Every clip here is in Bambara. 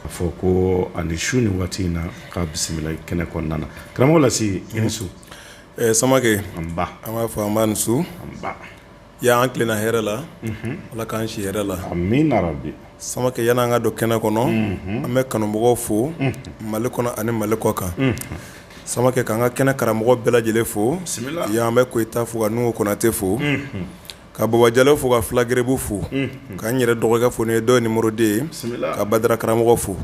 A fɔ ko a ni su ni waati in na k'a bisimila kɛnɛ kɔnɔna na karamɔgɔ lasi i ni su samakɛ an b'a fɔ an ni su y'an tilenna hɛrɛ la ala k'an si hɛrɛ la amina rabi samakɛ yanni an ka don kɛnɛ kɔnɔ an bɛ kanumɔgɔ fo mali kɔnɔ ani mali kɔ kan samakɛ k'an ka kɛnɛ karamɔgɔ bɛɛ lajɛlen fo yan an bɛ koyita fo ka nuhu konate fo ka baba jalo fo ka fila gɛrɛbu fo k'an yɛrɛ dɔgɔkɛ fo n'o ye dɔ numéro deux ye ka badara karamɔgɔ fo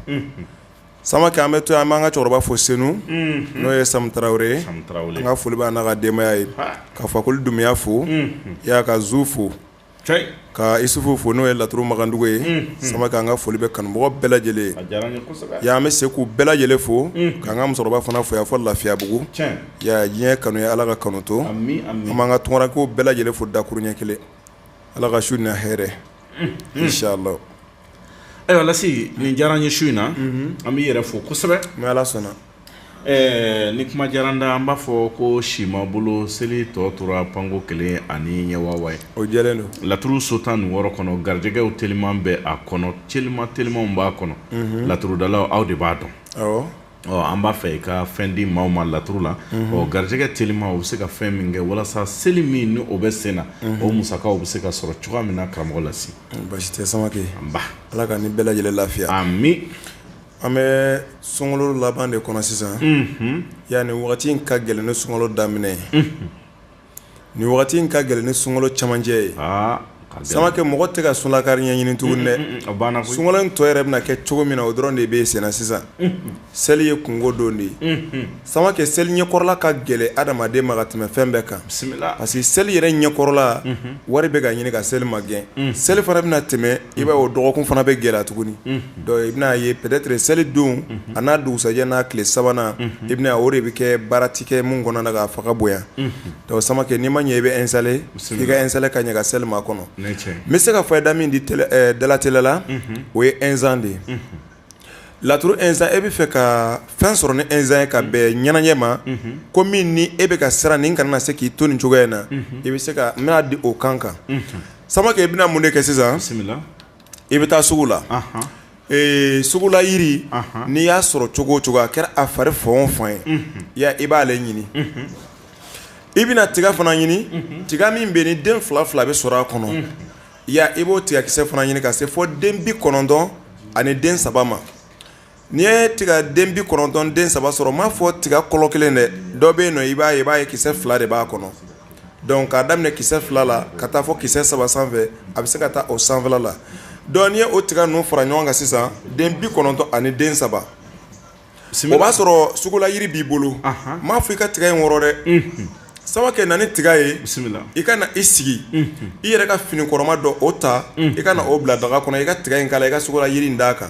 samakɛ an bɛ to an b'an ka cɛkɔrɔba fo senu n'o ye samu tarawele an ka foli b'a n'a ka denbaya ye ka fakoli dunbiya fo yan ka zu fo ka isufu fo n'o ye laturu magandugu ye samakɛ an ka foli bɛ kanumɔgɔ bɛɛ lajɛlen ye yan an bɛ se k'u bɛɛ lajɛlen fo k'an ka musokɔrɔba fana fo yan fo lafiyabugu Diɲɛ kanu ye ala ka kanu to an b'an ka tunkarankew bɛɛ lajɛlen fo dakuru ɲɛ kelen ala ka su na hɛrɛ inshallah ayiwa lasi nin diyara n ye su in na an b'i yɛrɛ fo kosɛbɛ ni ala sɔnna ɛɛ ni kuma diyara n da an b'a fɔ ko si ma bolo seli tɔ tora panko kelen ani ɲɛwawa ye o jɛlen don laturu so tan ni wɔɔrɔ kɔnɔ garijɛgɛw teliman bɛ a kɔnɔ telima telimanw b'a kɔnɔ laturudalaw aw de b'a dɔn Ɔ an b'a fɛ i ka fɛn di maaw ma laturu la ɔ garijɛgɛ teliman o bɛ se ka fɛn min kɛ walasa seli min ni o bɛ sen na o musakaw bɛ se ka sɔrɔ cogoya min na karamɔgɔ lasi basi tɛ samakɛ nba ala ka ni bɛɛ lajɛlen lafiya amin an bɛ sunkalo laban de kɔnɔ sisan yan ni waati in ka gɛlɛn ni sunkalo daminɛ ye Ni waati in ka gɛlɛn ni sunkalo cɛmancɛ ye samakɛ mɔgɔ tɛ ka sunlakari ɲɛɲini tugun dɛ sunkalo in tɔ yɛrɛ bɛna kɛ cogo min na o dɔrɔn de bɛ sen na sisan seli ye kungo don de ye samakɛ seli ɲɛkɔrɔla ka gɛlɛn adamaden ma ka tɛmɛ fɛn bɛɛ kan parce que seli yɛrɛ ɲɛkɔrɔla wari bɛ ka ɲini ka seli magɛn seli fana bɛna tɛmɛ i b'a o dɔgɔkun fana bɛ gɛlɛya tuguni donc i bɛn'a ye peut-être seli don a n'a dugusajɛ n'a tile sabanan i bɛna o de bɛ kɛ baara tɛ kɛ min kɔnɔ na k'a fanga bonya donc samakɛ n'i ma ɲɛ i bɛ installer i ka installer ka ɲɛ ka seli makɔnɔ n bɛ se ka fayida min di dalatɛlɛ la o ye urgent de ye Laturu urgent e b'a fɛ ka fɛn sɔrɔ ni urgent ye ka bɛn ɲɛnajɛ ma ko min ni e bɛ ka siran nin kana se k'i to ni cogoya in na i bɛ se ka n bɛna di o kan kan samakɛ i bɛna mun de kɛ sisan i bɛ taa sugu la sugula jiri n'i y'a sɔrɔ cogo o cogo a kɛra a fari fan o fan ye ya i b'ale ɲini i bɛna tiga fana ɲini tiga min bɛ ni den fila fila bɛ sɔrɔ a kɔnɔ ya i b'o tigakisɛ fana ɲini ka se fo den bi kɔnɔntɔn ani den saba ma n'i ye tiga den bi kɔnɔntɔn den saba sɔrɔ n m'a fɔ tiga kɔlɔ kelen dɛ dɔ bɛ yen nɔ i b'a ye i b'a ye kisɛ fila de b'a kɔnɔ donc k'a daminɛ kisɛ fila la ka taa fo kisɛ saba sanfɛ a bɛ se ka taa o sanfɛ la donc n'i ye o tiga ninnu fara ɲɔgɔn kan sisan den bi kɔnɔntɔn ani den saba o b'a sɔrɔ sugula yiri b'i bolo n m'a fɔ i ka tiga in wɔrɔ dɛ Samake na ni tiga ye i ka na i sigi i yɛrɛ ka fini kɔrɔma dɔ o ta i ka na o bila daga kɔnɔ i ka tiga in k'a la i ka sugula yiri in d'a kan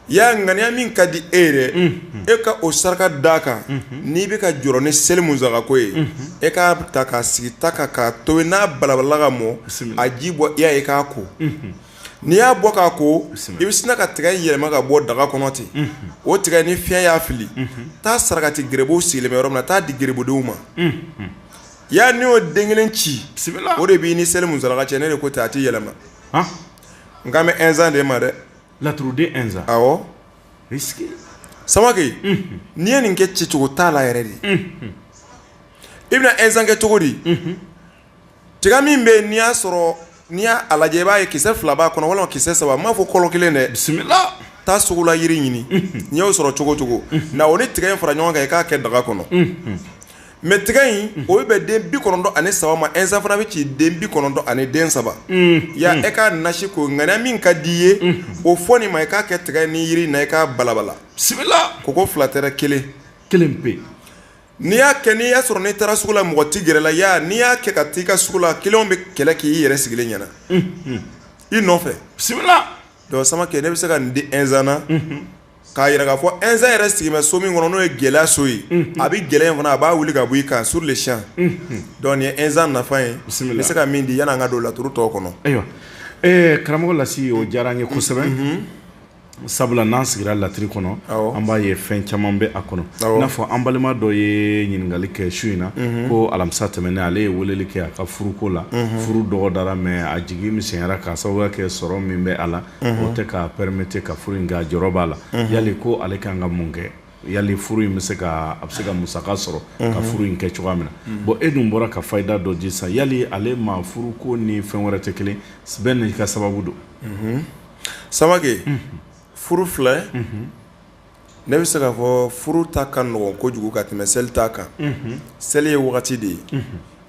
ya ŋaniya min ka di e yɛrɛ e ka o saraka d'a kan n'i bɛ ka jɔrɔ ni seli musakako ye e k'a ta k'a sigi ta kan k'a tobi n'a balabalala ka mɔ a ji bɔ i ye k'a ko n'i y'a bɔ k'a ko i bɛ sina ka tigɛ in yɛlɛma ka bɔ daga kɔnɔ ten o tigɛ ni fiɲɛ y'a fili taa sarakati gerebuw sigilen bɛ yɔrɔ min na taa di gerebudenw ma ya n'i y'o den kelen ci o de b'i ni seli musaka cɛ ne de ko ten a tɛ yɛlɛma n kan bɛ Inzan de ma dɛ laturuden Samake n'i ye nin kɛ cicogo t'a la yɛrɛ de i bɛna Inzan kɛ cogo di tiga min bɛ yen n'i y'a sɔrɔ n'i y'a lajɛ i b'a ye kisɛ fila b'a kɔnɔ walima kisɛ saba n m'a fɔ kɔlɔ kelen dɛ bisimila taa sugula yiri ɲini n'i y'o sɔrɔ cogo cogo na o ni tigɛ in fara ɲɔgɔn kan i k'a kɛ daga kɔnɔ mais tigɛ in o bɛ bɛn den bi kɔnɔntɔn ani saba ma Inzan fana bɛ ci den bi kɔnɔntɔn ani den saba ya e ka nasiko ŋaniya min ka di i ye o fɔ nin ma i k'a kɛ tigɛ ni yiri in na i k'a balabala bisimila ko ko fila tɛ kelen kelen pe N'i y'a kɛ n'i y'a sɔrɔ n'i taara sugu la mɔgɔ tɛ gɛrɛ i la, ya n'i y'a kɛ ka t'i ka sugu la clients bɛ kɛlɛ kɛ i yɛrɛ sigilen ɲɛna, unhun, i nɔfɛ, bisimila, donc Samake ne bɛ se ka nin di Inzan na, unhun, k'a yira k'a fɔ Inzan yɛrɛ sigilen bɛ so min kɔnɔ n'o ye gɛlɛya so ye, unhun, a bɛ gɛlɛya in fana a b'a wuli ka bɔ i kan sur le champ unhun, donc nin ye Inzan nafa ye, bisimila, n bɛ se ka min di yanni an ka don laturu tɔw kɔnɔ, ayiwa, ɛɛ karamɔgɔ Lasi o diyara an ye kosɛbɛ, unhun. sabula n'an sigira laturu kɔnɔ an b'a ye fɛn caman bɛ a kɔnɔ i n'a fɔ an balima dɔ ye ɲininkali kɛ su in na mhm. ko alamisa tɛmɛnen ale ye weleli kɛ a ka furuko la mhm. furu dɔgɔdara mais a jigi misɛnyara k'a sababuya kɛ sɔrɔ min bɛ a la mhm. o tɛ k'a permettre ka furu in kɛ a jɔrɔ b'a la yali ko ale kan ka mun kɛ yali furu in bɛ se ka a bɛ se ka musaka sɔrɔ ka furu in kɛ cogoya min na bon e dun bɔra ka fayida dɔ di sisan yali ale ma furu ko ni fɛn wɛrɛ tɛ kelen bɛɛ n'i ka sababu don Samake furu filɛ ne bɛ se k'a fɔ furu ta ka nɔgɔn kojugu ka tɛmɛ seli ta kan seli ye wagati de ye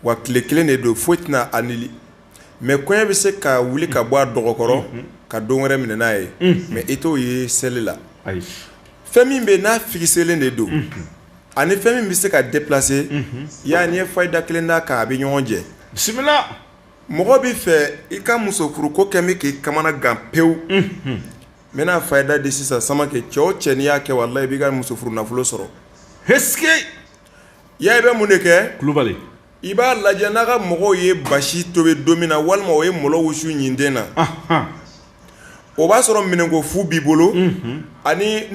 wa tile kelen de don foyi tɛna a annuler mais kɔɲɔ bɛ se ka wuli ka bɔ a dɔgɔ kɔrɔ ka don wɛrɛ minɛ n'a ye mais e t'o ye seli la fɛn min bɛ n'a fixélen de don ani fɛn min bɛ se ka déplacer ya n'i ye fayida kelen d'a kan a bɛ ɲɔgɔn jɛ bisimila mɔgɔ b'a fɛ i ka musofuruko kɛ bɛ k'i kamana gan pewu n bɛna fayida di sisan Samake cɛ o cɛ n'i y'a kɛ walahi i b'i ka muso furu nafolo sɔrɔ ya i bɛ mun de kɛ kulubali i b'a lajɛ n'a ka mɔgɔw ye basi tobi don min na walima o ye malo wusu ɲintin na o b'a sɔrɔ minɛnko fu b'i bolo ani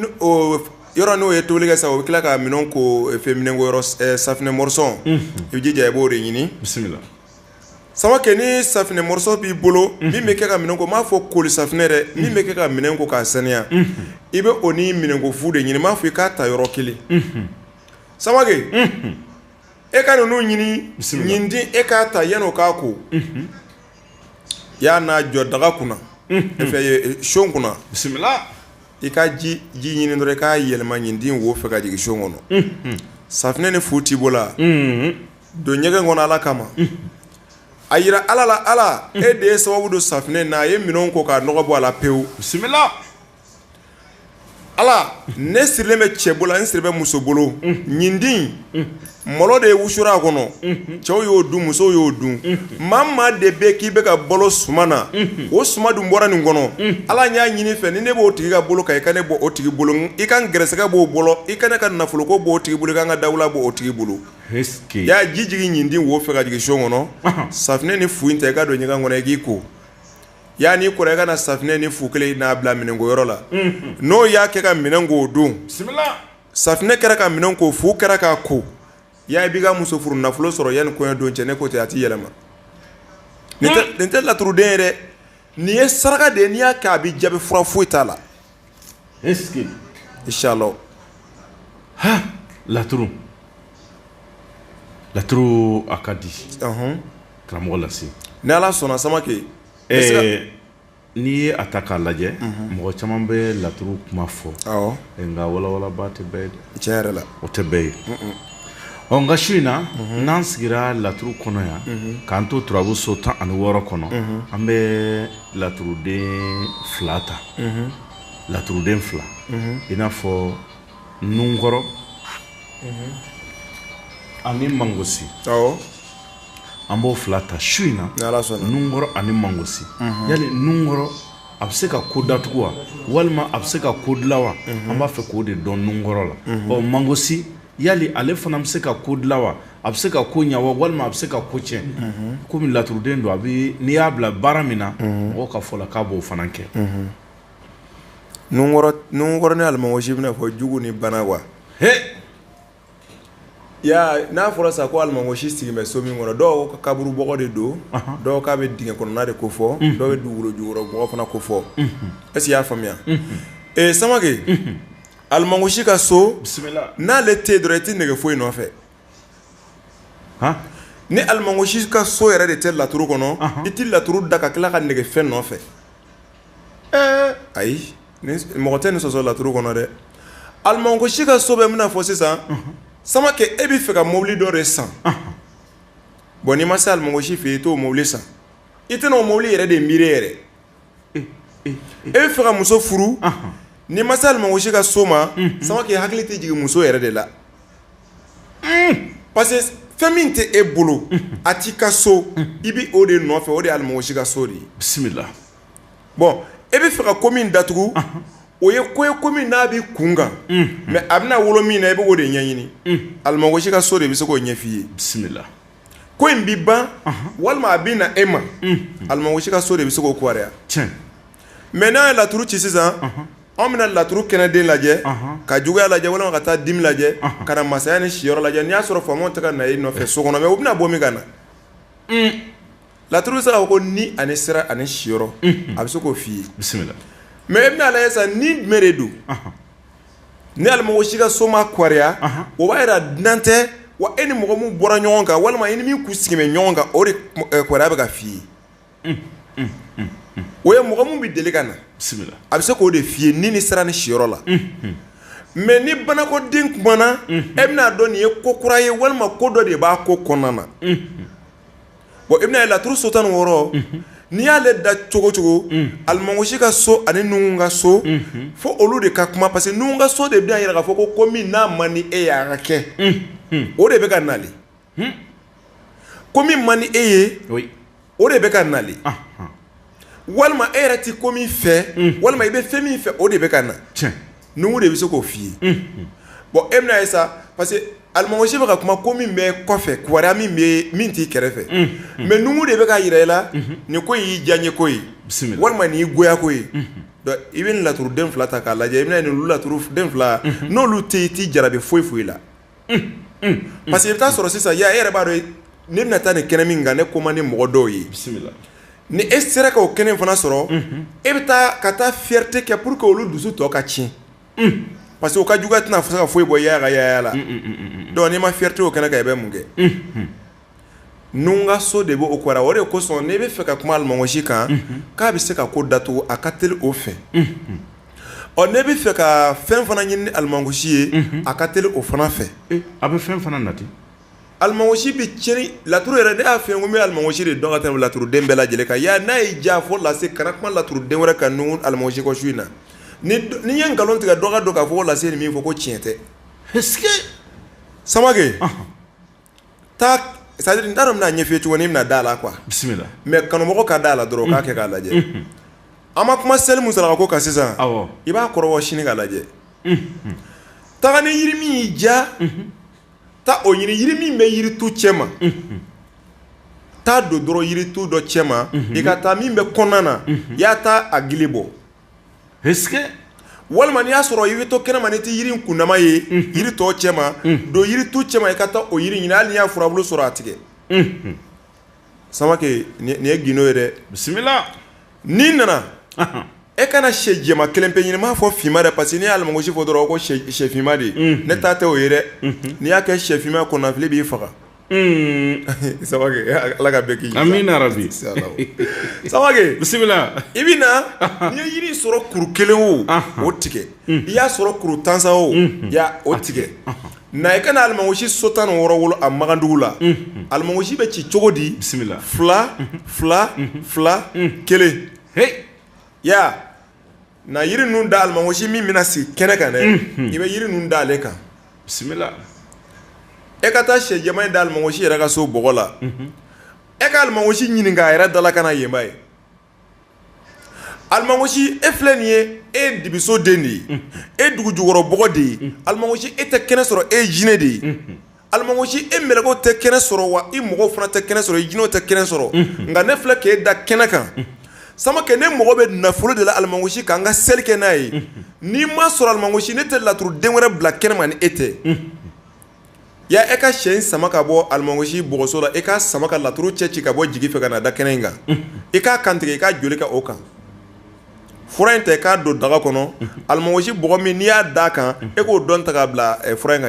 yɔrɔ n'o ye tobili kɛ sa o bɛ tila ka minɛn ko fɛn minɛnko safinɛ mɔrɔsɔn i bɛ jija i b'o de ɲini bisimila Samake ni safinɛ moriso b'i bolo min bɛ kɛ ka minɛn ko m'a fɔ kolisafinɛ dɛ min bɛ kɛ ka minɛn ko k'a saniya i bɛ o ni minɛn ko fu de ɲini m'a fɔ i k'a ta yɔrɔ kelen samake e ka ninnu ɲini ɲintin e k'a ta yan o k'a ko i y'a n'a jɔ daga kunna fɛ so kunna bisimila i ka ji ɲini dɔrɔn i k'a yɛlɛma ɲintin wo fɛ ka jigin so kɔnɔ safinɛ ni fu t'i bolo la don ɲɛgɛn kɔnɔ ala kama a jira ala la ala e de ye sababu don safinɛ na a ye minɛn ko k'a nɔgɔ bɔ a la pewu bisimila ala ne sirilen bɛ cɛ bolo n siri bɛ muso bolo ɲintin malo de ye wusu a kɔnɔ cɛw y'o dun musow y'o dun maa maa de bɛ k'i bɛ ka balo suman na o suman dun bɔra nin kɔnɔ ala n y'a ɲini i fɛ ni ne b'o tigi ka bolo kan i ka ne bɔ o tigi bolo i ka n gɛrɛsɛgɛ b'o bolo i ka ne ka nafoloko b'o tigi bolo i ka n ka dawula b'o tigi bolo y'a ji jigin ɲintin wo fɛ ka jigin so kɔnɔ safinɛ ni fu in ta i ka don ɲɛgɛn kɔnɔ i k'i ko y'a n'i kora i ka na safinɛ ni fu kelen n'a bila minɛnkoyɔrɔ la n'o y'a kɛ ka minɛn ko o don safinɛ kɛra ka minɛn ko fu kɛra k'a ko ya i b'i ka muso furu nafolo sɔrɔ yanni kɔɲɔ don cɛ ne ko ten a tɛ yɛlɛma nin tɛ laturuden ye dɛ nin ye saraka de n'i y'a kɛ a bɛ jaabi fura foyi t'a la inshallah laturu laturu a ka di karamɔgɔ lase ni ala sɔnna Samake ɛɛ n'i ye a ta k'a lajɛ mɔgɔ caman bɛ laturu kuma fɔ nka walawalaba tɛ bɛɛ ye tiɲɛ yɛrɛ la o tɛ bɛɛ ye ɔ nka su in na n'an sigira laturu kɔnɔ yan k'an to turabu so tan ani wɔɔrɔ kɔnɔ an bɛ laturuden fila ta laturuden fila i n'a fɔ nunkɔrɔ ani mangosi an b'o fila ta su in na nunkɔrɔ ani mangosi yali nunkɔrɔ a bɛ se ka ko datugu wa walima a bɛ se ka ko dilan wa an b'a fɛ k'o de dɔn nunkɔrɔ la ɔ mangosi yali ale fana bɛ se ka ko dilan wa a bɛ se ka ko ɲɛ walima a bɛ se ka ko cɛn kɔmi laturuden don a bɛ n'i y'a bila baara min na mɔgɔw ka fɔ la k'a b'o fana kɛ nunkɔrɔ ni alimangosi bɛna fɔ jugu ni bana wa n'a fɔra sa ko alimangosi sigi bɛ so min kɔnɔ dɔw ka kaburu bɔgɔ de don dɔw k'a bɛ dingɛ kɔnɔna de ko fɔ dɔw bɛ dugukolo jukɔrɔ bɔgɔ fana ko fɔ e y'a faamuya ee samakɛ alimangosi ka so bisimila n'ale tɛ yen dɔrɔn i tɛ nɛgɛ foyi nɔfɛ ni alimangosi ka so yɛrɛ de tɛ laturu kɔnɔ i tɛ laturu da ka tila ka nɛgɛ fɛn nɔfɛ ayi mɔgɔ tɛ nin sɔsɔ laturu kɔnɔ dɛ alimangosi ka so bɛ min fɔ sisan samakɛ e bɛ fɛ ka mobili dɔ de san bɔn n'i ma se alimangosi fɛ i t'o mobili san i tɛna o mobili yɛrɛ de miiri yɛrɛ e bɛ fɛ ka muso furu n'i ma se alimangosi ka so ma samakɛ i hakili tɛ jigin muso yɛrɛ de la parce que fɛn min tɛ e bolo a t'i ka so i bɛ o de nɔfɛ o de ye alimangosi ka so de ye bisimila bɔn e bɛ fɛ ka ko min datugu o ye ko ye ko min n'a b'i kun kan mɛ a bɛna wolo min na i bɛ o de ɲɛɲini alimangosi ka so de bɛ se k'o ɲɛf'i ye bisimila ko in bɛ ban walima a bɛ na e ma alimangosi ka so de bɛ se k'o kibaruya mɛ n'an ye laturu ci sisan anw bɛna laturu kɛnɛden lajɛ ka juguya lajɛ walima ka taa dimi lajɛ ka na masaya ni siyɔrɔ lajɛ n'i y'a sɔrɔ faamaw tɛ ka na e nɔfɛ so kɔnɔ mɛ u bɛna bɔ min ka na laturu bɛ se k'a fɔ ko ni ani sira ani siyɔrɔ a bɛ se k'o f'i ye bisimila mɛ e bɛna a lajɛ sa ni jumɛn de don Ni alimangosi ka so ma kɔrɔya o b'a jira dunan tɛ wa e ni mɔgɔ min bɔra ɲɔgɔn kan walima i ni min kun sigilen bɛ ɲɔgɔn kan o de kibaruya bɛ ka f'i ye o ye mɔgɔ min bɛ deli ka na a bɛ se k'o de f'i ye ni ni sira ni siyɔrɔ la mɛ ni banakoden kumana e bɛna a dɔn nin ye ko kura ye walima ko dɔ de b'a ko kɔnɔna na bon i bɛna ye laturu so tan ni wɔɔrɔ n'i y'ale da cogo cogo alimangosi ka so ani nuhun ka so fo olu de ka kuma parce que nuhun ka so de bɛna a jira k'a fɔ ko ko min n'a man di e ye a ka kɛ o de bɛ ka na ko min man di e ye o de bɛ ka na walima e yɛrɛ tɛ ko min fɛ walima i bɛ fɛn min fɛ o de bɛ ka na nuhun de bɛ se k'o f'i ye bɔn e bɛna ye sa parce que alimangosi bɛ ka kuma ko min bɛ kɔfɛ kibaruya min t'i kɛrɛfɛ mɛ nuhun de bɛ ka jira i la nin ko y'i diyanye ko ye walima nin y'i goya ko ye donc i bɛ nin laturuden fila ta k'a lajɛ i bɛna nin laturuden fila n'olu tɛ yen i t'i jarabi foyi foyi la parce que i bɛ taa sɔrɔ sisan ya e yɛrɛ b'a dɔn ne bɛna taa nin kɛnɛ min kan ne ko man di mɔgɔ dɔw ye bisimila ni e sera ka o kɛnɛ fana sɔrɔ e bɛ taa ka taa fierté kɛ pour que olu dusu tɔ ka tiɲɛ parce que u ka juguya tɛna se ka foyi bɔ yaya ka yaya la donc n'i ma fierté o kɛnɛ kan i bɛ mun kɛ. Nuhun ka so de bɛ o kɔrɔ o de kosɔn n'i bɛ fɛ ka kuma alimɔgɔsi kan k'a bɛ se ka ko datugu a ka teli o fɛ ɔ n'i bɛ fɛ ka fɛn fana ɲini ni alimɔgɔsi ye a ka teli o fana fɛ a bɛ fɛn fana nati alimɔgɔsi bɛ cɛn laturu yɛrɛ ne y'a fɛ n ko n bɛ alimɔgɔsi de dɔn ka tɛmɛ laturuden bɛɛ lajɛlen kan ya n'a ye jan fɔ lase kana kuma laturuden wɛrɛ kan ninnu alimɔgɔsi kɔ su in na ni n'i ye nkalon tigɛ dɔ k'a dɔn k'a fɔ lase nin min fɔ ko tiɲɛ tɛ sama taa c'est à dire n t'a dɔn n bɛna ɲɛf'i ye cogo min n'i bɛna d'a la quoi bisimila mais kanumɔgɔ ka d'a la dɔrɔn o k'a kɛ k'a lajɛ an ma kuma seli min saraka ko kan sisan awɔ i b'a kɔrɔbɔ sini ka lajɛ taga ni yiri min y'i diya taa o ɲini yiri min bɛ yiritu cɛ ma taa don dɔrɔn yiritu dɔ cɛ ma i ka taa min bɛ kɔnɔna na i y'a ta a gili bɔ walima n'i y'a sɔrɔ i bɛ to kɛnɛma n'i tɛ yiri kundama ye yiri tɔ cɛ ma don yiritu cɛ ma i ka taa o yiri ɲini hali n'i y'a furabulu sɔrɔ a tigɛ Samakɛ nin ye gindo ye dɛ bisimila n'i nana e ka na sɛ jɛma kelen pe ɲini n m'a fɔ finma dɛ parce que ni alimɔgɔsi fɔ dɔrɔn ko sɛfinma de ne ta tɛ o ye dɛ n'i y'a kɛ sɛfinma kɔnɔnafili b'i faga Samakɛ ala ka bɛɛ kisi amina rabi Samakɛ bisimila i bɛ na n'i ye yiri sɔrɔ kuru kelen o o tigɛ i y'a sɔrɔ kuru tansa o o tigɛ na i ka na alimɔgɔsi so tan ni wɔɔrɔ wolo a magandugu la alimɔgɔsi bɛ ci cogo di bisimila fila fila fila kelen ya Na yiri ninnu da alimɔgɔsi min bɛna sigi kɛnɛ kan dɛ i bɛ yiri ninnu da ale kan bisimila e ka taa sɛ jɛma in da alimɔgɔsi yɛrɛ ka so bɔgɔ la e ka alimɔgɔsi ɲininka a yɛrɛ da la ka na yenba ye alimɔgɔsi e filɛ nin ye e dibiso den de ye e dugu jukɔrɔ bɔgɔ de ye alimɔgɔsi e tɛ kɛnɛ sɔrɔ e jinɛ de ye alimɔgɔsi e mɛlɛkɛw tɛ kɛnɛ sɔrɔ wa i mɔgɔw fana tɛ kɛnɛ sɔrɔ i jinɛw tɛ kɛnɛ sɔrɔ nka ne filɛ ka e da kɛnɛ kan Samakɛ ne mɔgɔ bɛ nafolo de la alimɔgɔsi ka an ka seli kɛ n'a ye n'i m'a sɔrɔ alimɔgɔsi ne tɛ laturuden wɛrɛ bila kɛnɛ ma ni e tɛ ya e ka sɛ in sama ka bɔ alimɔgɔsi bɔgɔso la e k'a sama ka laturu cɛ ci ka bɔ jigi fɛ ka na da kɛnɛ in kan i k'a kantigɛ i k'a joli kɛ o kan fura in ta k'a don daga kɔnɔ alimɔgɔsi bɔgɔ min n'i y'a da a kan e k'o dɔ ta k'a bila fura in ka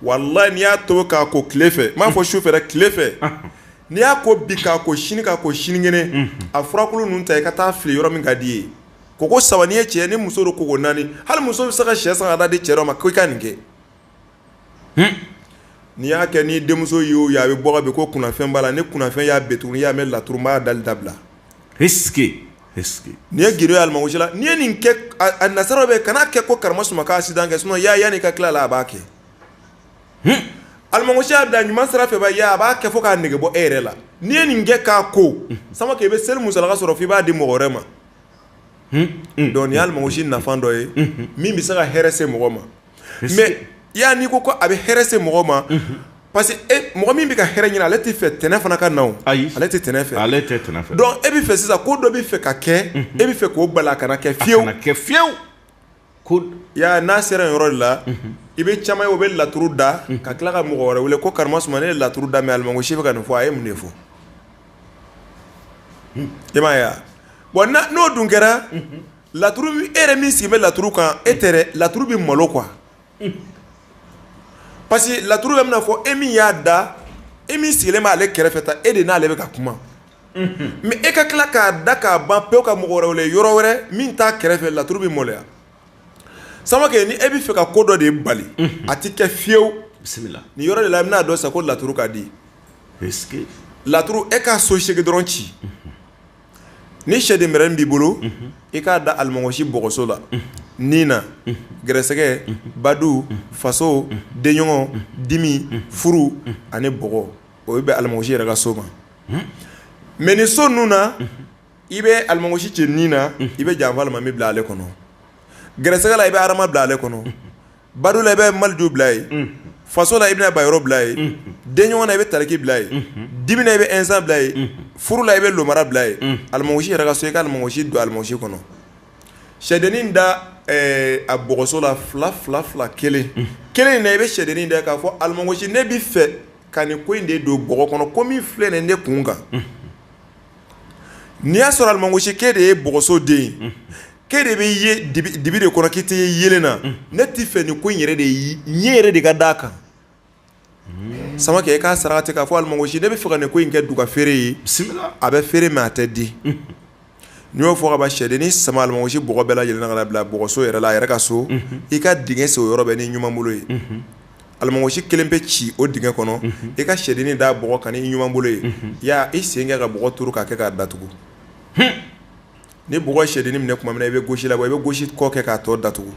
walayi n'i y'a tobi k'a ko tile fɛ n m'a fɔ su fɛ dɛ tile fɛ n'i y'a ko bi k'a ko sini k'a ko sinikɛnɛ a furakulu ninnu ta i ka taa fili yɔrɔ min ka di i ye ko ko saba n'i ye cɛ ni muso don ko naani hali muso bɛ se ka sɛ san ka t'a di cɛ dɔ ma ko i ka nin kɛ n'i y'a kɛ ni denmuso ye o ye a bɛ bɔ ka bin ko kunnafɛn b'a la ni kunnafɛn y'a bin tugun i y'a mɛn laturu n b'a dali dabila nin ye gundo ye alimɔgɔsi la n'i ye nin kɛ a nasaraw bɛ kana kɛ ko karamɔ suma k'aksidan kɛ sinon ya yanni ka tila la a b'a kɛ alimɔgɔsi y'a da ɲuman sira fɛ ba a b'a kɛ fo k'a nege bɔ e yɛrɛ la n' ye nin kɛ k'a ko samakɛ i bɛ seli musalaka sɔrɔ f'i b'a di mɔgɔ wɛrɛ ma dɔnku nin ye alimɔgɔsi nafa dɔ ye min bɛ se ka hɛrɛ se mɔgɔ ma Mais i y'a ye n'i ko ko a bɛ hɛrɛ se mɔgɔ ma. Unhun. Parce que e mɔgɔ min bɛ ka hɛrɛ ɲini ale tɛ fɛ tana fana ka na o. Ayi. Ale tɛ tana fɛ. Ale tɛ tana fɛ. Donc e bɛ fɛ sisan ko dɔ bɛ fɛ ka kɛ. Unhun. E bɛ fɛ k'o bali a kana kɛ fiyew. A kana kɛ fiyew. Ko i y'a ye n'a sera nin yɔrɔ de la. Unhun. I bɛ caman ye o bɛ laturu da. Unhun. Ka tila ka mɔgɔ wɛrɛ wele ko karamɔ suma ne ye laturu da mais alimɔgɔsi bɛ ka nin fɔ a ye mun de fɔ. Hun. I m'a ye wa? Bon na n'o dun kɛra. Unhun. Laturu e yɛrɛ min sigi bɛ laturu kan e tɛ dɛ laturu bɛ malo quoi parce que laturu bɛ mina fɔ e min y'a da e min sigilen b'ale kɛrɛfɛ ta e de n'ale bɛ ka kuma mais e ka tila k'a da k'a ban pewu ka mɔgɔ wɛrɛ wele yɔrɔ wɛrɛ min t'a kɛrɛfɛ laturu bɛ maloya samakɛ ni e bɛ fɛ ka ko dɔ de bali a tɛ kɛ fiyewu bisimila nin yɔrɔ de la i bɛn'a dɔn sa ko laturu ka di laturu e k'a so segin dɔrɔn ci Ni sɛden mɛrɛnin b'i bolo i k'a da alimɔgɔsi bɔgɔso la ni na gɛrɛsɛgɛ badu faso denɲɔgɔn dimi furu ani bɔgɔ o bɛ alimɔgɔsi yɛrɛ ka so ma mais ni so ninnu na i bɛ alimɔgɔsi cɛ ni na i bɛ janfa alimami bila ale kɔnɔ gɛrɛsɛgɛ la i bɛ adama bila ale kɔnɔ Badu la i bɛ maliju bila ye faso la i bɛna bayɔrɔ bila ye denɲɔgɔn na i bɛ tariki bila ye dimi na i bɛ insa bila ye furu la i bɛ lomara bila ye alimɔgɔsi yɛrɛ ka so i ka alimɔgɔsi don alimɔgɔsi kɔnɔ sɛdennin da a bɔgɔso la fila fila fila kelen kelen na i bɛ sɛdennin da k'a fɔ alimɔgɔsi ne bɛ fɛ ka nin ko in de don bɔgɔ kɔnɔ ko min filɛ nin ne kun kan n'i y'a sɔrɔ alimɔgɔsi k'e de ye bɔgɔso den ye k'e de bɛ dibi de kɔnɔ k'i tɛ ye yelen na ne tɛ fɛ nin ko in yɛrɛ de ɲɛ yɛrɛ de ka d'a kan samakɛ i k'a sarati k'a fɔ alimɔgɔsi ne bɛ fɛ ka nin ko in kɛ duga feere ye a bɛ feere mais a tɛ di n'i y'o fɔ ka ban sɛdennin sama alimɔgɔsi bɔgɔ bɛɛ lajɛlen na ka na bila bɔgɔso yɛrɛ la a yɛrɛ ka so i ka dingɛ sen o yɔrɔ bɛ ni ɲuman bolo ye Alimɔgɔsi kelen bɛ ci o dingɛ kɔnɔ i ka sɛdennin da bɔgɔ kan ni i ɲuman bolo ye ya i sen kɛ ka bɔgɔ duuru k'a kɛ k'a datugu ni bɔgɔ sɛdennin minɛ tuma min i bɛ gosi la wa i bɛ gosi kɔ kɛ k'a tɔ datugu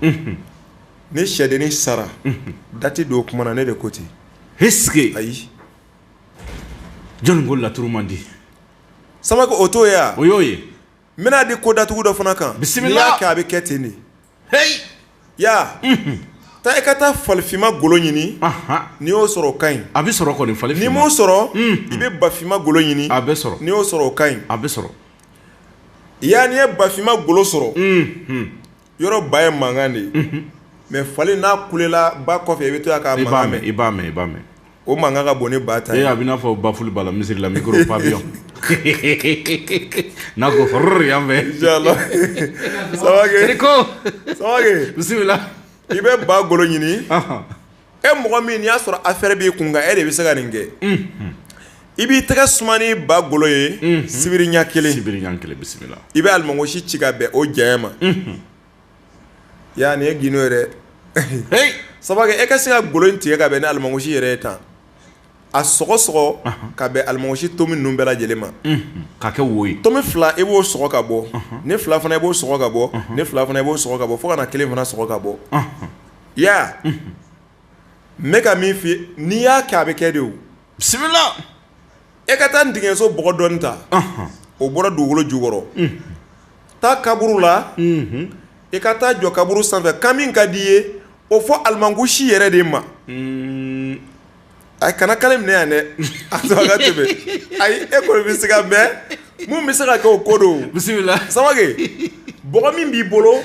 ni sɛdennin sara dati don o tuma na ne de ko ten est-ce que ayi jɔnni ko laturu man di Samake o t'o ye wa o y'o ye n bɛn'a di ko datugu dɔ fana kan bisimila n'i y'a kɛ a bɛ kɛ ten de ya taa i ka taa falifima golo ɲini n'i y'o sɔrɔ o ka ɲi a bɛ sɔrɔ kɔni n'i m'o sɔrɔ i bɛ bafima golo ɲini a bɛ sɔrɔ n'i y'o sɔrɔ o ka ɲi a bɛ sɔrɔ yan n'i ye bafima golo sɔrɔ yɔrɔ ba ye mankan de ye mais fali n'a kulela ba kɔfɛ i bɛ to yan k'a mankan mɛn i b'a mɛn i b'a mɛn o mankan ka bon ni ba ta ye. Ee a bɛ n'a fɔ baffle b'a la misiri la micro pavillon n'a ko horreur yan fɛ. Inshallah Samake. Eriko. Samake. Bisimila. i bɛ ba golo ɲini. e mɔgɔ min n'i y'a sɔrɔ affaire b'i kun kan e de bɛ se ka nin kɛ. i b'i tɛgɛ suma ni ba golo ye. sibiri ɲɛ kelen. sibiri ɲɛ kelen bisimila. i bɛ alimɔgɔsi ci ka bɛn o janya ma. Ya nin ye gundo ye dɛ Samake e ka se ka golo in tigɛ ka bɛn ni alimɔgɔsi yɛrɛ ye tan a sɔgɔ sɔgɔ ka bɛn alimɔgɔsi tomi ninnu bɛɛ lajɛlen ma k'a kɛ wo ye tomi fila i b'o sɔgɔ ka bɔ nin fila fana i b'o sɔgɔ ka bɔ nin fila fana i b'o sɔgɔ ka bɔ fo ka na kelen fana sɔgɔ ka bɔ ya n bɛ ka min f'i ye n'i y'a kɛ a bɛ kɛ de bisimila e ka taa ntigiɲɛso bɔgɔ dɔɔni ta o bɔra dugukolo jukɔrɔ taa kaburu la e ka taa jɔ kaburu sanfɛ kan min ka di i ye o fɔ alimɔgɔsi yɛrɛ de ma a kana kari minɛ yan dɛ a sɔrɔ ka tɛmɛ ayi e kɔni bɛ se ka mɛn min bɛ se ka kɛ o ko don bisimila Samake bɔgɔ min b'i bolo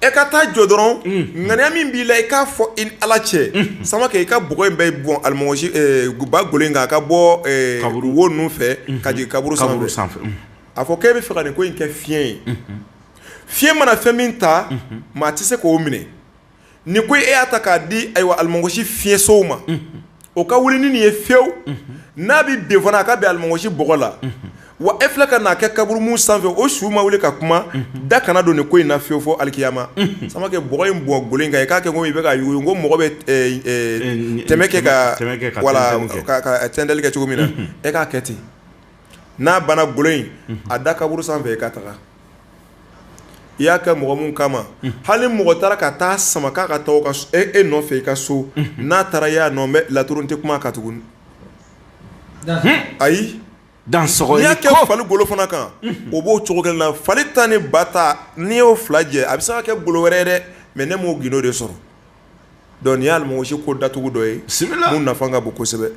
E ka taa jɔ dɔrɔn ŋaniya min b'i la i k'a fɔ i ni Ala cɛ Samake i ka bɔgɔ in bɛɛ bɔn alimɔgɔsi ba golo in kan a ka bɔ wo ninnu fɛ ka jigin kaburu sanfɛ a fɔ k'e bɛ fɛ ka nin ko in kɛ fiɲɛ ye fiɲɛ mana fɛn min ta maa tɛ se k'o minɛ ni ko e y'a ta k'a di ayiwa alimɔgɔsi fiɲɛsow ma o ka wuli ni nin ye fiyewu n'a bɛ bin fana a ka bɛn alimɔgɔsi bɔgɔ la wa e filɛ ka n'a kɛ kaburu min sanfɛ o su ma wuli ka kuma da kana don nin ko in na fiyewu fo alikiyama Samake bɔgɔ in bɔn golo in kan i k'a kɛ komi i bɛ ka yugu ko mɔgɔ bɛ tɛmɛ kɛ ka tɛntɛli kɛ cogo min na e k'a kɛ ten n'a banna golo in a da kaburu sanfɛ e ka taga i y'a kɛ mɔgɔ min kama hali mɔgɔ taara ka taa sama k'a ka taa e nɔfɛ i ka so n'a taara y'a nɔ bɛ laturu tɛ kuma kan tuguni ayi n'i y'a kɛ fali golo fana kan o b'o cogo kelen na fali ta ni ba ta n'i y'o fila jɛ a bɛ se ka kɛ golo wɛrɛ ye dɛ mais ne m'o gundo de sɔrɔ Donc n'i y'a mɔgɔ si ko datugu dɔ ye min nafa ka bon kosɛbɛ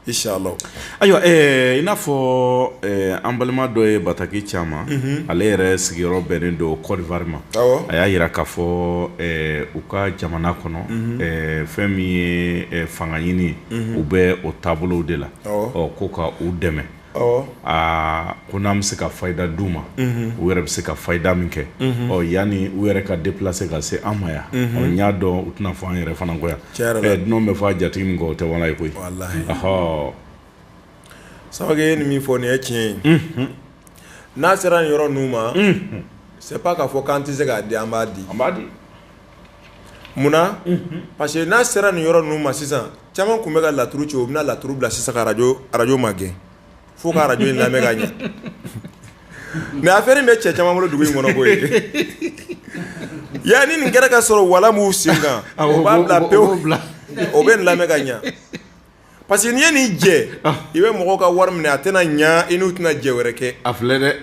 inshallah ayiwa i n'a fɔ an balima dɔ ye bataki c'an ma ale yɛrɛ sigiyɔrɔ bɛnnen don Côte d'Ivoire ma a y'a jira k'a fɔ u ka jamana kɔnɔ fɛn min ye fanga ɲini u bɛ o taabolow de la ɔ ko ka u dɛmɛ aa ko n'an bɛ se ka fayida d'u ma u yɛrɛ bɛ se ka fayida min kɛ ɔ yanni u yɛrɛ ka déplacer ka se an ma yan n y'a dɔn u tɛna fɔ an yɛrɛ fana ko yan dunanw bɛ fɔ a jatigi min kɔ o tɛ wala ye koyi Samake ye nin min fɔ nin ye tiɲɛ ye n'a sera nin yɔrɔ ninnu ma c'est pas k'a fɔ k'an tɛ se k'a di an b'a di an b'a di munna parce que n'a sera nin yɔrɔ ninnu ma sisan caman tun bɛ ka laturu ci u bɛna laturu bila sisan ka radio magɛn fo ka radio in lamɛn ka ɲɛ mais affaire in bɛ cɛ caman bolo dugu in kɔnɔ koyi yani nin kɛra ka sɔrɔ wala m'u sen kan o b'a bila pewu o bɛ nin lamɛn ka ɲɛ parce que n'i ye nin jɛ i bɛ mɔgɔw ka wari minɛ a tɛna ɲɛ i n'u tɛna jɛ wɛrɛ kɛ a filɛ dɛ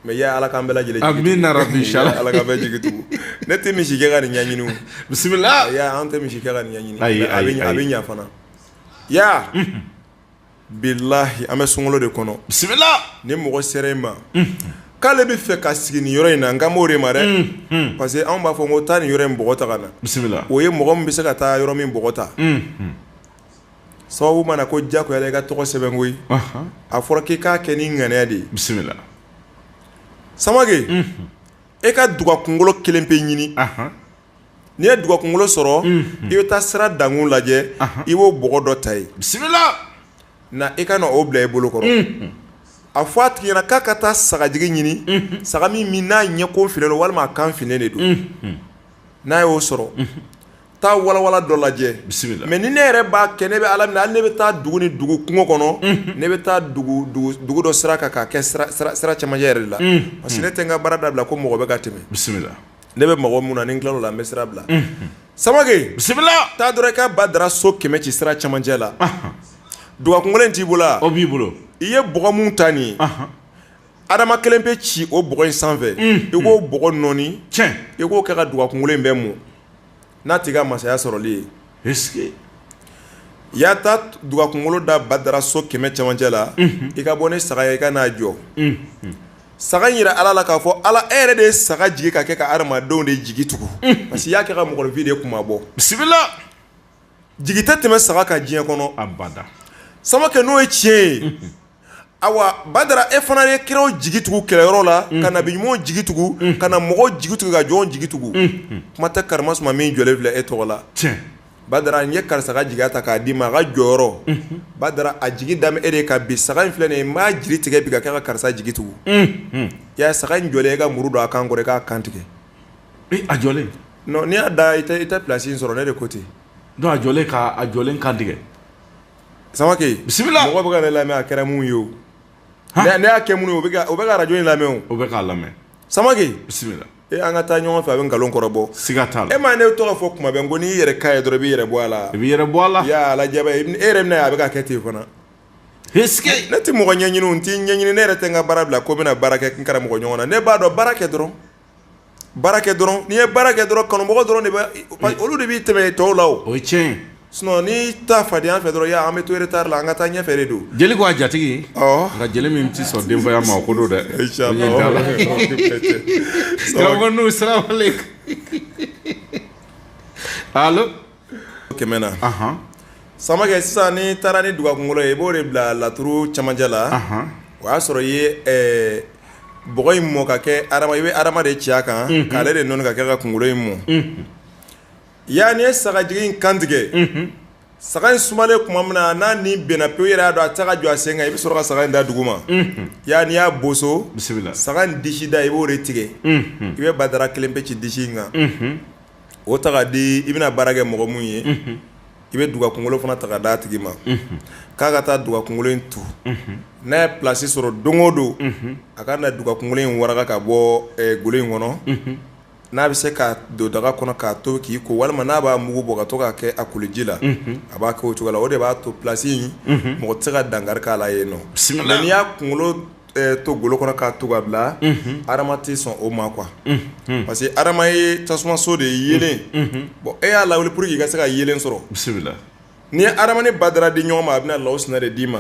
Mais ya ala k'an bɛɛ lajɛlen ala k'an bɛɛ jigi tugu ne tɛ misi kɛ ka nin ɲɛɲini bisimila an tɛ misi kɛ ka nin ɲɛɲini a bɛ ɲɛ fana ya bilahi an bɛ sunkalo de kɔnɔ bisimila ni mɔgɔ sera i ma k'ale bɛ fɛ ka sigi nin yɔrɔ in na n kan b'o de ma dɛ parce que anw b'a fɔ ko taa nin yɔrɔ in bɔgɔ ta ka na bisimila o ye mɔgɔ min bɛ se ka taa yɔrɔ min bɔgɔ ta sababu mana ko jagoya i ka tɔgɔ sɛbɛn koyi a fɔra k'i k'a kɛ ni ŋaniya de ye bisimila Samake e ka duga kunkolo kelen pe ɲini n'i ye duga kunkolo sɔrɔ i bɛ taa sira dankun lajɛ i b'o bɔgɔ dɔ ta ye bisimila na i ka na o bila i bolo kɔrɔ a fɔ a tigi ɲɛna k'a ka taa sagajigi ɲini saga min n'a ɲɛkon finnen don walima a kan finnen de don n'a y'o sɔrɔ taa walawala dɔ lajɛ bisimila mais ni ne yɛrɛ b'a kɛ ne bɛ ala minɛ hali ne bɛ taa dugu ni dugu kungo kɔnɔ ne bɛ taa dugu dɔ sira kan k'a kɛ sira cɛmancɛ yɛrɛ la parce que ne tɛ n ka baara dabila ko mɔgɔ bɛ ka tɛmɛ bisimila ne bɛ mɔgɔ min na ni n tilal'o la n bɛ sira bila Samake bisimila taa dɔrɔn i ka badara so kɛmɛ ci sira cɛmancɛ la duga kunkolo t'i bolo o b'i bolo i ye bɔgɔ min ta n'i ye adama kelen pe ci o bɔgɔ in sanfɛ i k'o bɔgɔ nɔɔni i k'o kɛ ka duga kunkolo in bɛɛ mun n'a t'i ka masaya sɔrɔli ye est-ce que i y'a ta duga kunkolo da badara so kɛmɛ camancɛ la i ka bɔ ni saga ye i ka n'a jɔ saga in jira ala la k'a fɔ ala e yɛrɛ de ye saga jigin ka kɛ ka hadamadenw de jigi tugu parce que i y'a kɛ ka mɔgɔninfin de kunmabɔ bisimila jigi tɛ tɛmɛ saga kan diɲɛ kɔnɔ abada samakɛ n'o ye tiɲɛ ye ayiwa badara e fana ye kiraw jigi tugu kɛlɛyɔrɔ la ka nabi ɲumanw jigi tugu ka na mɔgɔw jigi tugu ka jɔnw jigi tugu kuma tɛ karamasuma min jɔlen filɛ e tɔgɔ la badara n ye karisa ka jigiya ta k'a d'i ma a ka jɔyɔrɔ badara a jigi dalen b'e de kan bi saga in filɛ nin n b'a jigi tigɛ bi ka kɛ ka karisa jigi tugu ya saga in jɔlen e ka muru don a kan kɔrɔ i k'a kantigɛ A jɔlen n'i y'a da i i tɛ plasi in sɔrɔ ne de ko ten a jɔlen ka a jɔlen kan tigɛ samakɛ bisimila mɔgɔ bɛ ka ne lamɛn a kɛra mun ye o ne y'a kɛ mun ye o bɛ ka arajo in lamɛn o bɛ k'a lamɛn samakɛ bisimila e an ka taa ɲɔgɔn fɛ a bɛ nkalon kɔrɔ bɔ siga t'a la e ma ne tɔgɔ fɔ kuma bɛɛ n ko n'i y'i yɛrɛ ka ye dɔrɔn i b'i yɛrɛ bɔ a la i b'i yɛrɛ bɔ a la yala e yɛrɛ n'a ye a bɛ ka kɛ ten fana ne tɛ mɔgɔ ɲɛɲini n t'i ɲɛɲini ne yɛrɛ tɛ n ka baara bila ko n bɛna baara kɛ n karamɔgɔ ɲɔgɔn na ne b'a dɔn baara kɛ dɔrɔn Baara kɛ dɔrɔn n'i ye baara kɛ dɔrɔn kanubagaw dɔrɔn de bɛ olu de b'i tɛmɛ tɔw la o ye tiɲɛ ye sinon n'i taa fadenya fɛ dɔrɔn an bɛ to retard la an ka taa ɲɛfɛ de don, jeli ko a jatigi nka jeli min tɛ sɔn denfaya ma o ko don dɛ, karamɔgɔ Nuhu salamalekum, allo kɛmɛ na samakɛ sisan n'i taara ni duga kunkolo ye i b'o de bila laturu cɛmancɛ la o y'a sɔrɔ i ye bɔgɔ in mɔ ka kɛ i bɛ adama de ci a kan k'ale de nɔɔni ka kɛ ka kunkolo in mɔ ya n'i ye sagajigi in kantigɛ saga in sumalen tuma min na n'a ni banna pewu i yɛrɛ y'a dɔn a tɛ se ka jɔ a sen kan i bɛ sɔrɔ ka saga in da duguma ya n'i y'a boso saga in disi da i b'o de tigɛ i bɛ badara kelen pe ci disi in kan. o ta k'a di i bɛna baara kɛ mɔgɔ min ye i bɛ duga kunkolo fana ta k'a d'a tigi ma k'a ka taa duga kunkolo in tu n'a ye plasi sɔrɔ don o don a ka na duga kunkolo in waraka ka bɔ golo in kɔnɔ n'a bɛ se k'a don daga kɔnɔ k'a to k'i ko walima n'a b'a mugu bɔ ka to k'a kɛ a koliji la a b'a kɛ o cogo la o de b'a to plasi in mɔgɔ tɛ se ka dankari k'a la yen nɔ bisimila n'i y'a kunkolo to golo kɔnɔ k'a tu ka bila adama tɛ sɔn o ma quoi parce que adama ye tasumaso de ye yelen bon e y'a lawuli pour que i ka se ka yelen sɔrɔ bisimila n'i ye adama ni badara di ɲɔgɔn ma a bɛna lawusina de d'i ma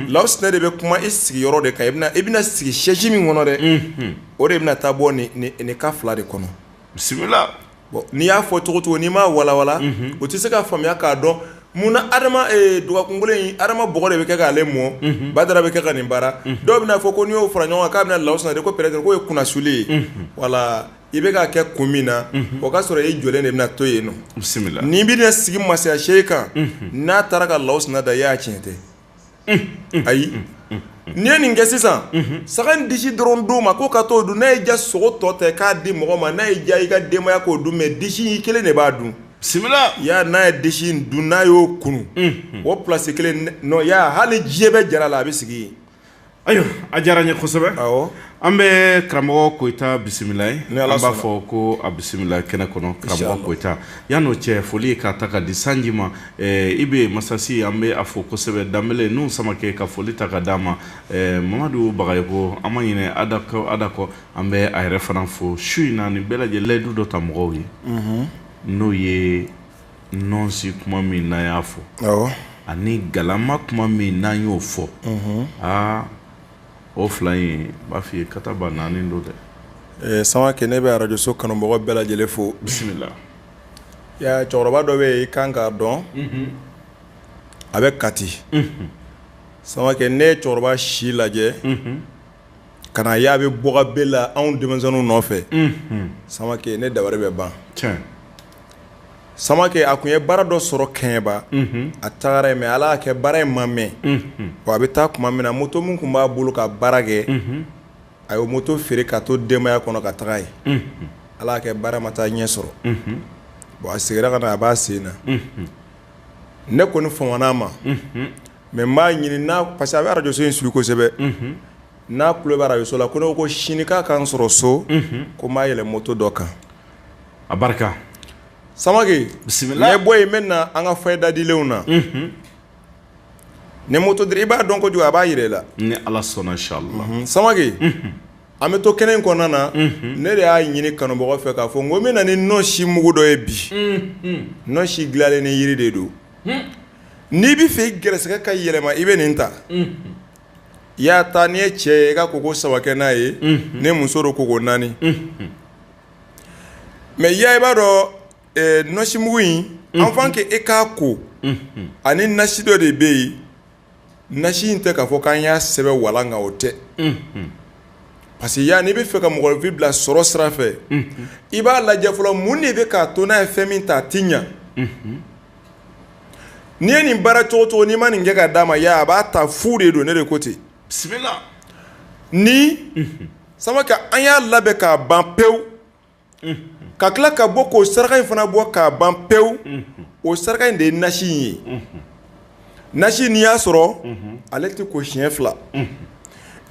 lawusina de bɛ kuma i sigiyɔrɔ de kan i bɛna sigi sɛsi min kɔnɔ dɛ o de bɛna taa bɔ nin ka fila de kɔnɔ bisimila bon n'i y'a fɔ cogo cogo n'i m'a walawala o tɛ se ka faamuya k'a dɔn munna adama duga kunkolo in adama bɔgɔ de bɛ kɛ k'ale mɔ badara bɛ kɛ ka nin baara dɔw bɛna a fɔ ko n'i y'o fara ɲɔgɔn kan k'a bɛna lawusina di ko peut-être k'o ye kunasuli ye wala i bɛ k'a kɛ kun min na o k'a sɔrɔ e jɔlen de bɛna to yen nɔ bisimila n'i bɛna sigi masaya sɛsi kan n'a taara ka lawusina da i y'a tiɲɛ tɛ ayi n'i ye nin kɛ sisan saga in disi dɔrɔn d'o ma ko ka t'o dun n'a y'i diya sogo tɔ ta k'a di mɔgɔ ma n'a y'i diya i ka denbaya k'o dun mɛ disi in i kelen de b'a dun bisimila Ya n'a ye disi in dun n'a y'o kunu o plasi kelen na Ya hali diɲɛ bɛ jara la a bɛ sigi yen Ayiwa a diyara n ye kosɛbɛ an bɛ karamɔgɔ Koyita bisimila ye ni ala an b'a fɔ ko a bisimila kɛnɛ kɔnɔ karamɔgɔ Koyita Ya n'o cɛ foli ye k'a ta k'a di sanji ma i bɛ masasi an bɛ a fo kosɛbɛ Danbele ni Samakɛ ka foli ta k'a d'a ma Mamadu Bagayoko an ma ɲinɛ Ada kɔ an bɛ a yɛrɛ fana fo su in na ani bɛɛ lajɛlen layidu dɔ ta mɔgɔw ye n'o ye nɔnsi kuma min n'an y'a fɔ awɔ ani galama kuma min n'an y'o fɔ mhm. aa o fila in n b'a f'i ye kataba naani don dɛ eh, Samakɛ ne bɛ arajoso kanubagaw bɛɛ lajɛlen fo bisimila Ya cɛkɔrɔba dɔ bɛ yen i kan k'a dɔn mhm. a bɛ Kati mhm. Samakɛ ne ye cɛkɔrɔba si lajɛ Ka na ye a bɛ bɔka bɛɛ la anw denmisɛnninw nɔfɛ samakɛ ne dabali bɛ ban samakɛ a tun ye baara dɔ sɔrɔ Kɛɲɛba a tagara yen mɛ ala y'a kɛ baara in ma mɛɛn a bɛ taa tuma min na moto min tun b'a bolo ka baara kɛ a ye moto feere k'a to denbaya kɔnɔ ka taga yen ala y'a kɛ baara ma taa ɲɛ sɔrɔ bon a segira ka na a b'a sen na ne kɔni famana a ma mɛ n b'a ɲini n'a parce que a bɛ arajoso in suivi kosɛbɛ n'a tulo bɛ arajoso la ko ne ko sini k'a ka n sɔrɔ so ko n b'a yɛlɛ moto dɔ kan a barika Samakɛ bisimila bɔ yen n bɛ na an ka fayida dilenw na ni moto i b'a dɔn kojugu a b'a jira i la ni ala sɔnna inshallah Samakɛ An bɛ to kɛnɛ in kɔnɔna na ne de y'a ɲini kanubagaw fɛ k'a fɔ n ko n bɛ na ni nɔnsimugu dɔ ye bi nɔnsi dilanlen ni yiri de don n'i bɛ fɛ i gɛrɛsɛgɛ ka yɛlɛma i bɛ nin ta i y'a ta n'i ye cɛ ye i ka koko saba kɛ n'a ye ni muso don koko naani mɛ Ya i b'a dɔn nɔnsimugu in avant que e k'a ko ani nasi dɔ de bɛ yen nasi in tɛ k'a fɔ k'an y'a sɛbɛn walan kan o tɛ, unhun, parce que i y'a ye n'i bɛ fɛ ka mɔgɔninfin bila sɔrɔ sira fɛ, unhun, i b'a lajɛ fɔlɔ mun de bɛ k'a to n'a ye fɛn min ta a tɛ ɲɛ, unhun, n'i ye nin baara cogo o cogo n'i ma nin kɛ k'a d'a ma i y'a ye a b'a ta fu de don ne de ko ten, bisimila, ni, unhun, Samakɛ an y'a labɛn k'a ban pewu ka tila ka bɔ k'o saraka in fana bɔ k'a ban pewu o saraka in de ye nasi in ye nasi n'i y'a sɔrɔ ale tɛ ko siɲɛ fila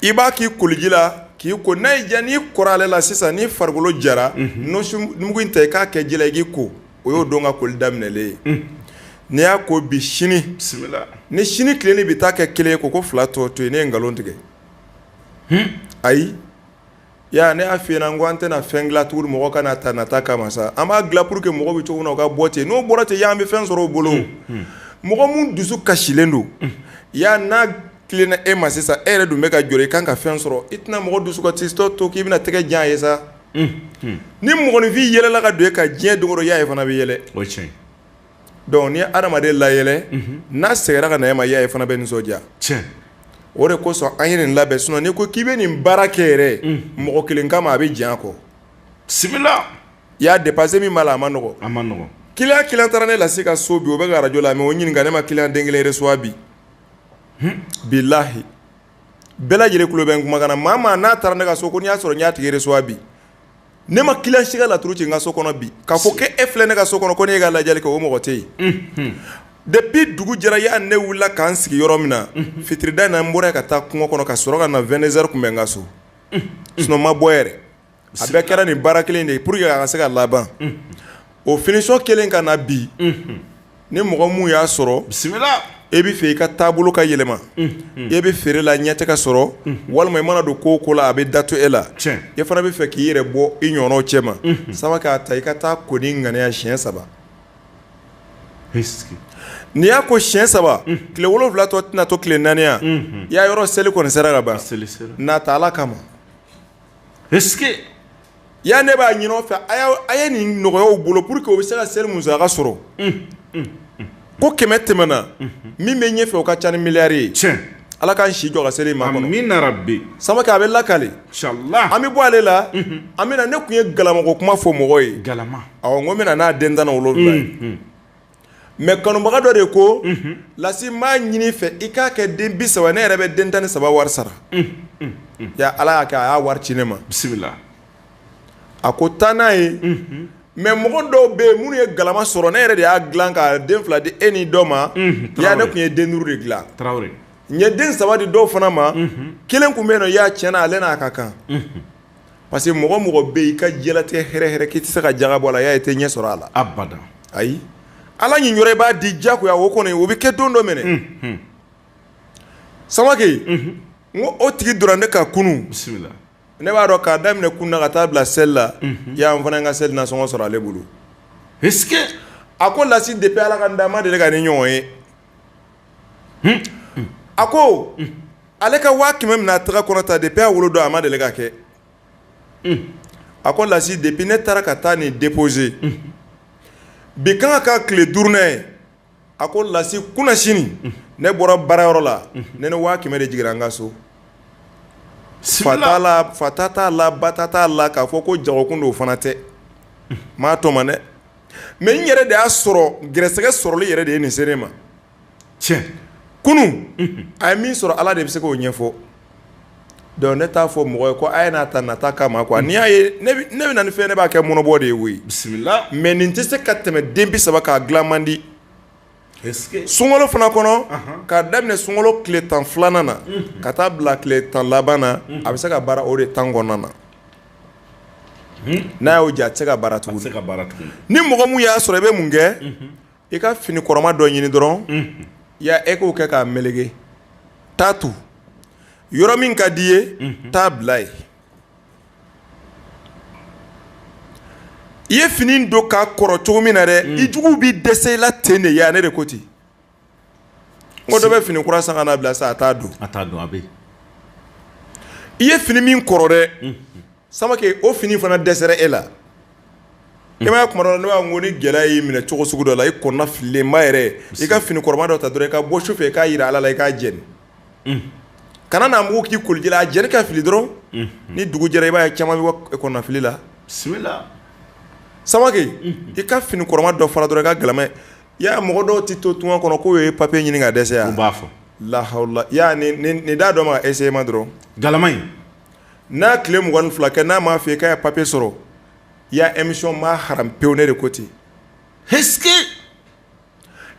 i b'a k'i koliji la k'i ko n'a y'i diya n'i kora ale la sisan n'i farikolo jara mugu in ta i k'a kɛ ji la i k'i ko o y'o don ka koli daminɛlen ye n'i y'a ko bi sini bisimila ni sini tilennen bɛ taa kɛ kelen ye ko ko fila tɔ to yen ne ye nkalon tigɛ ayi Ya ne y'a f'i ɲɛna n ko an tɛna fɛn dilan tuguni mɔgɔ ka n'a ta nata kama sa, an b'a dilan pour que mɔgɔ bɛ cogo min na u ka bɔ ten, n'o bɔra ten ya an bɛ fɛn sɔrɔ u bolo, unhun, mɔgɔ minnu dusu kasilen don, unhun, ya n'a tilenna e ma sisan e yɛrɛ dun bɛ ka jɔrɔ i kan ka fɛn sɔrɔ i tɛna mɔgɔ dusukasitɔ to k'i bɛna tɛgɛ jan a ye sa, unhun, ni mɔgɔninfin yɛlɛla ka don e kan diɲɛ don o don ya e fana bɛ yɛlɛ, o ye tiɲɛ ye Donc n'i ye adamaden layɛlɛ n'a seginna ka na e ma yaa e fana bɛ nisɔndiya o de kosɔn an ye nin labɛn sinon n'i ko k'i bɛ nin baara kɛ yɛrɛ mɔgɔ kelen kama a bɛ jan kɔ bisimila ya dépense min b'a la a ma nɔgɔ a ma nɔgɔ client taara ne Lasi ka so bi o bɛ ka arajɔ lamɛn o ɲininka ne ma client den kelen recevoir bi bilahi bɛɛ lajɛlen tulo bɛ n kumakan na maa n'a taara ne ka so ko n'i y'a sɔrɔ n y'a tigi recevoir bi Ne ma client si ka laturu ci n ka so kɔnɔ bi ka fɔ ko e filɛ ne ka so kɔnɔ ko ne y'e ka lajɛli kɛ o mɔgɔ tɛ yen depuis dugu jɛra ya ne wilila k'an sigi yɔrɔ min na fitirida in n bɔra ka taa kungo kɔnɔ ka sɔrɔ ka na vingt-deux heures tun bɛ n ka so sinon n ma bɔ yɛrɛ a bɛɛ kɛra nin baara kelen de ye pour que a ka se ka laban o finition kelen ka na bi ni mɔgɔ minnu y'a sɔrɔ bisimila e bɛ fɛ i ka taabolo ka yɛlɛma e bɛ feere la ɲɛ tɛ ka sɔrɔ walima i mana don ko o ko la a bɛ dato e la e fana bɛ fɛ k'i yɛrɛ bɔ i ɲɔgɔn cɛma Samake a ta i ka taa ko ni ŋaniya siɲɛ saba n'i y'a ko siɲɛ saba tile wolonwula tɔ tɛna to tile naani ya i y'a yɔrɔ seli kɔni sera ka ban n'a ta ala kama Ya ne b'a ɲini aw fɛ a ye nin nɔgɔya u bolo pour que u bɛ se ka seli musaka sɔrɔ ko kɛmɛ tɛmɛna min bɛ ɲɛ fɛ o ka ca ni miliyari ye ala k'an si jɔ ka seli makɔnɔ amina rabi Samake a bɛ lakali an bɛ bɔ ale la an bɛna ne tun ye galama ko kuma fɔ mɔgɔ ye galama awɔ n bɛna n'a den tan wolo Mais kanubaga dɔ de ko Lasi m'a ɲini fɛ i k'a kɛ den bi saba ne yɛrɛ bɛ den tan ni saba wari sara ya ala y'a kɛ a y'a wari ci ne ma bisimila a ko taa n'a ye mais mɔgɔ dɔw bɛ yen minnu ye galama sɔrɔ ne yɛrɛ de y'a dilan ka den fila di e ni dɔ ma ya ne tun ye den duuru de dilan n ye den saba di dɔw fana ma kelen tun bɛ yen i y'a tiɲɛ n na ale n'a ka kan parce que mɔgɔ o mɔgɔ bɛ i ka diɲɛlatigɛ hɛrɛ hɛrɛ k'i tɛ se ka jaga bɔ a la y'a ye i tɛ ɲɛ sɔrɔ a la abada ayi ala niyɔrɔ i b'a di diyagoya o kɔni o bɛ kɛ don dɔ minɛ mhm. samake mhm. n ko o tigi donna ne kan kunun bisimila ne b'a dɔn k'a daminɛ kunun na ka taa bila seli la mhm. y'an fana ka seli nasɔngɔ sɔrɔ ale bolo a ko lasi depuis ala ka n da n ma deli ka nin ɲɔgɔn ye a ko ale ka waa kɛmɛ minɛ a tɛgɛ kɔnɔ ta depuis a wolo don a ma deli ka kɛ a ko lasi depuis ne taara ka taa nin déposer bi kan ka tile duurunan ye a ko lasi kunasini ne bɔra baara yɔrɔ la ne ni waa kɛmɛ de jigira n ka so fa ta t'a la ba ta t'a la k'a fɔ ko jagokun don o fana tɛ m'a tɔmɔ dɛ Mais n yɛrɛ de y'a sɔrɔ garisɛgɛ sɔrɔli yɛrɛ de ye nin se ne ma cɛ kunun a ye min sɔrɔ ala de bɛ se k'o ɲɛfɔ donc ne t'a fɔ mɔgɔ ye ko a ye n'a ta nata kama quoi n'i y'a ye ne bɛ na nin fɛn ne b'a kɛ mɔnɔbɔ de ye bisimila mais nin tɛ se ka tɛmɛ den bi saba kan a dilan man di sunkalo fana kɔnɔ k'a daminɛ sunkalo tile tan filanan na ka taa bila tile tan laban na a bɛ se ka baara o de temps kɔnɔna na n'a y'o jɛ a tɛ se ka baara tugun ni mɔgɔ min y'a sɔrɔ i bɛ mun kɛ i ka fini kɔrɔma dɔ ɲini dɔrɔn ya e k'o kɛ k'a melege taa to yɔrɔ min ka di i ye taa bila yen i ye fini don k'a kɔrɔ cogo min na dɛ mm. i juguw bɛ dɛsɛ i la ten de ya ne de ko ten n ko dɔ bɛ fini kura san ka n'a bila sa a t'a don a don a bɛ i ye fini min kɔrɔ dɛ mm. samake o fini fana dɛsɛra e la mm. i m'a ye kuma dɔ la ne b'a fɔ ko ni gɛlɛya y'i minɛ cogo sugu dɔ la i kɔnɔna fililenba yɛrɛ i ka fini kɔrɔma dɔ ta dɔrɔn i ka bɔ su fɛ i k'a jira ala la i k'a jeni kana n'a mugu k'i koliji la a jeni k'a fili dɔrɔn ni dugu jɛra i b'a ye caman bɛ bɔ kɔnɔnafili la samake i ka fini kɔrɔma dɔ fara dɔrɔn i ka galama ya mɔgɔ dɔw tɛ to tunga kɔnɔ k'u ye papiye ɲini ka dɛsɛ ya n b'a fɔ la hawla nin d'a dɔ ma essayer ma dɔrɔn galama in n'a tile mugan ni fila kɛ n'a m'a fɔ i k'a ye papiye sɔrɔ ya émission ma haramu pewu ne de ko ten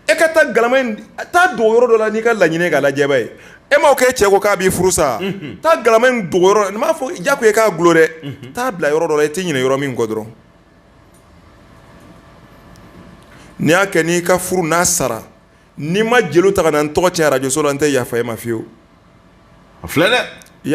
e ka taa galama in taa dogo yɔrɔ dɔ la n'i ka laɲini k'a lajɛ b'a ye e m'o kɛ e cɛ ko k'a b'i furu sa taa galama in dogo yɔrɔ n m'a fɔ ja ko e k'a golo dɛ taa bila yɔrɔ dɔ la i tɛ ɲinɛ yɔrɔ min kɔ dɔrɔn n'i y'a kɛ n'i ka furu n'a sara n'i ma jeliw ta ka na n tɔgɔ tiɲɛ arajoso la n tɛ yafa e ma fiyewu a filɛ dɛ